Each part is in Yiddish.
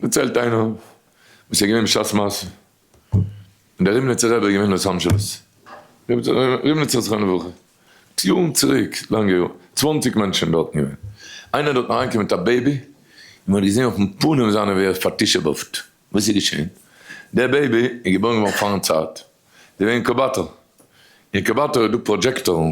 דערציילט איינער וואס איז געווען בשעת מעשה ווען דער רימניצער רבי איז געווען אויס אנשלוס, רימניצער זכרונו לברכה, מיט יארן צוריק, לאנגע יארן, צוואנציג מענטשן דארטן געווען, איינער איז דארטן אריינגעקומען מיט א בעבי, און מען האט געזען אויפן פנים זיינע ווי ער איז פאר'תשע'בה'ט, וואס איז געשען? דער בעבי איז געבוירן געווארן פארן צייט, זיי זענען אינקובאטאר, אינקובאטאר איז דא פראדזשעקטארן,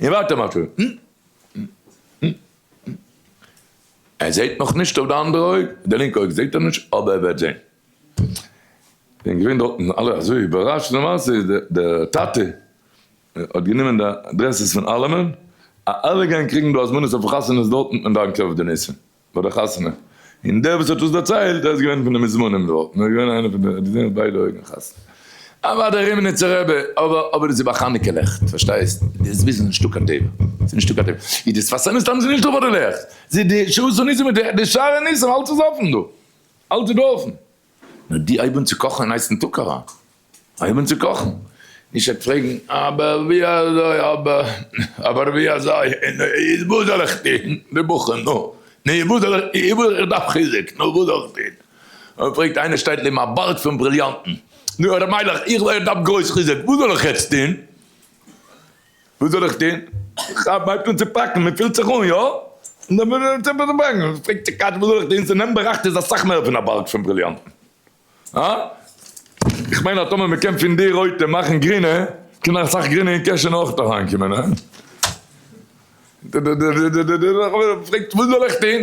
און ווארט א מאטערע. ער זעהט נאך נישט אויף די אנדערע אויג, די לינקע אויג זעהט ער נישט אבער ער וועט זעהן. זענען געווען דארטן אלע אזוי איבערראשט, למעשה איז די טאטע האט גענומען די אדרעסס פון אלעמען, אז אלע גייען קריגן דא הזמנות אויפן חתונות דארטן און דאנקען אויף די ניסים. ביי די חתונה, און דער וואס האט דאס דערציילט ער איז געווען פון די מוזמנים דארט, און ער איז געווען איינער פון די, ער האט געזען מיט ביידע אויגן חתונה, אוואדע א רימניצער רבי, אבער אבער דאס איז ביי חנוכה לעכט, פארשטייסט, די זוויז איז נישטא קיין טבע, ס'איז נישטא קיין טבע, און די שפת אמת טאנצן נישטא ביי די לעכט, די שעות הניסים מיט די שערי ניסים אלץ איז אפן דא, אלץ איז דא אפן. נאר די אויבן צו קאכן אין הייסן טאג אריין אויבן צו קאכן נישט עט פרעגן אבער ווי אזוי אבער אבער ווי אזוי איז וואס זאל איך טון רבוך'ן נו נו איז וואס זאל איך איז וואס איך דארף חיזוק נו וואס זאל איך טון אויב פרעגט איינער שטייט לעבן א בארג פון בריליאנטן נו ר' מיילעך איך דארף גרויס חיזוק וואס זאל איך יעצט טון. וואס זאל איך טון? כ'האב מיינסט וואס צו פאקן, מען פילט זיך אן, יא? ס'נעמט באראכט איז אסאך מער פון א בארג פון בריליאנטן. הא? כ'מיין אז טאמער מען קען פון די רויטע מאכן גרינע, קען נאך אסאך גרינע אין קעשענע אויך אריינקומען, הא? דער חבר פרעגט וואס זאל איך טון?